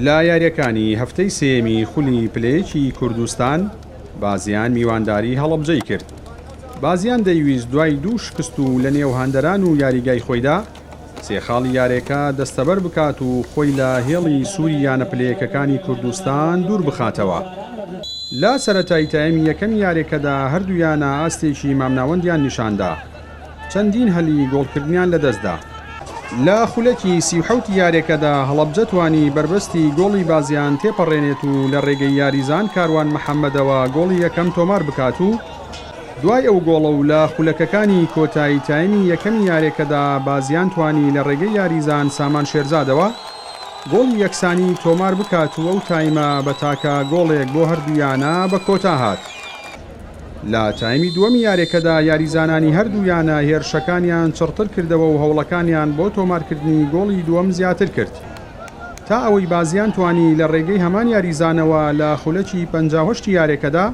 لە یارییەکانی هەفتەی سێیەمی خولی پلەیەکی کوردستان، بازیان میوانداری هەڵەبجەی کرد، بازیان دەیویست دوای دوو شکست و لەنێو هەندەران و یاریگای خۆیدا، سێ خاڵی یارێکە دەستەبەر بکات و خۆی لە هێڵی سووری یانە پلەیەکەکانی کوردستان دوور بخاتەوە. لە سەرەتای تایمی یەکەمی یارییەکەدا هەردوو یانە ئاستێکی مامناوەندیان نیشاندا، چەندین هەلی گۆڵکردنیان لەدەستدا. لە خولەکی سی و حەوتی یارییەکەدا هەڵەبجە توانی بەربەستی گۆڵی بازیان تێپەڕێنێت و لە رێگەی یاریزان کاروان محەمەدەوە گۆڵی یەکەم تۆمار بکات و دوای ئەو گۆڵە و لە خولەکەکانی کۆتایی تایمی یەکەمی یارییەکەدا بازیان توانی لە رێگەی یاریزان سامان شێرزادەوە گۆڵی یەکسانی تۆمار بکات و ئەو تایمە بە تاکە گۆڵێک بۆ هەردوویانە بە کۆتا هات. لە تایمی دووەمی یاریەکەدا یاریزانانی هەردوو یانە هێرشەکانیان چڕتر کردەوە و هەوڵەکانیان بۆ تۆمارکردنی گۆڵی دووەم زیاتر کرد تا ئەوەی بازیان توانی لە ڕێگەی هەمان یاریزانەوە لە خولەکی پەنجا و هەشتی یاریەکەدا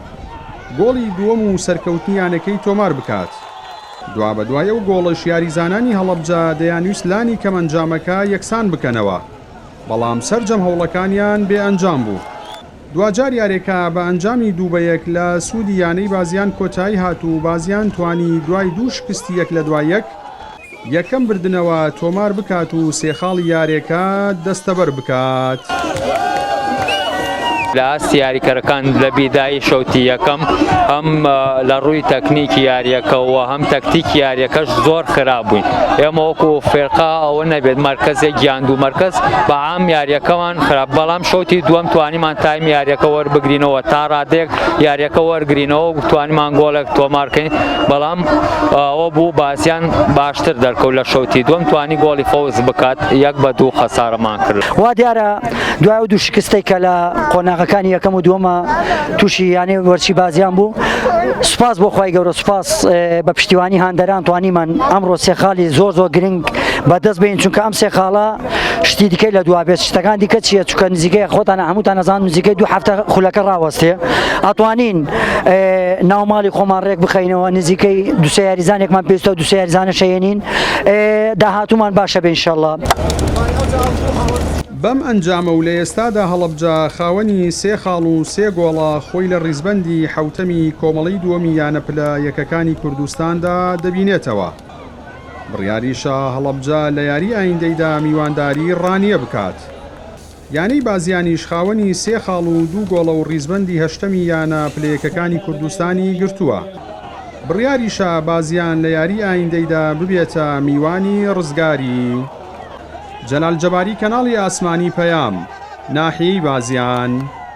گۆڵی دووەم و سەرکەوتنی یانەکەی تۆمار بکات. دوابەدوای ئەو گۆڵەش یاریزانانی هەڵەبجە دەیانویست لانی کەم ئەنجامەکە یەکسان بکەنەوە، بەڵام سەرجەم هەوڵەکانیان بێ ئەنجام بوو. دواجار یاریەکە بە ئەنجامی دوو بە یەک لە سوودی یانەی بازیان کۆتایی هات و بازیان توانی دوای دوو شکستی یەک لە دوای یەک، یەکەم بردنەوە تۆمار بکات و سێ خاڵی یاریەکە دەستەبەر بکات. لە ئاستی یاریکەرەکان لە بیدایی شوتی یەکەم هەم لە ڕووی تەکنیکی یاریەکەوە هەم تەکتیکی یاریەکەش زۆر خراپ بووین، ئێمە وەکو فیرقە ئەوە نەبێت مەرکەزێک یان دوو مەرکەز بە ئەم یاریەکەمان خراپ بەڵام شوتی دووەم توانیمان تایم یاریەکە وەربگرینەوە تا ڕادێک یاریەکە وەرگرینەوە توانیمان گۆڵێک تۆمارکەین بەڵام ئەوە بوو باسییان باشتر دەرکەوت لە شوتی دوم توانی گۆڵی فەوز بکات یەک بە دوو خەسارەمان کرد وا دیارە دوای دوو شکستەی کە لە قۆناغەکانی یەکەم و دووەمە تووشی یانێ وەرچی بازیان بوو سوپاس بۆ خی گەورە سوپاس بە پشتیوانی هاندەران توانیمان ئەمڕۆ سێخالی زۆر زۆر گرنگ بەدەست بین چونکە ئەم سێخاڵە شتی دیکەی لە دوا بێت شتەکان دیکە چیە چکە نزیکەیە خۆتان هەمووتان نەزان نزیکەی دو هەفتە خولەکە ڕاوەستێ ئەتوانین ناوماڵی خۆمان ڕێک بخینەوە نزیکەی دوسە یاریزانێکمان پێستە و دوسە یاریزانە شەێنین داهاتومان باشە بینشەڵە. بەم ئەنجامە و لە ئێستادا هەڵەبجە خاوەنی سێ خاڵ و سێ گۆڵە خۆی لە ڕیزبەندی حوتەمی کۆمەڵی دووەمی یانە پلە یەکەکانی کوردستاندا دەبینێتەوە. بڕیاری شا هەڵەبجە لە یاری ئایندەیدا میوانداری ڕانیە بکات. یانەی بازیانیش خاوەنی سێ خاڵ و دوو گۆڵە و ڕیزبەندی هەشتەمی یانە پلە یەکەکانی کوردستانی گرتووە. بڕیاری شا بازیان لە یاری ئایندەیدا ببێتە میوانی ڕزگاری جەلال جەباری کەناڵی ئاسمانی پەیام، ناحیەی بازیان.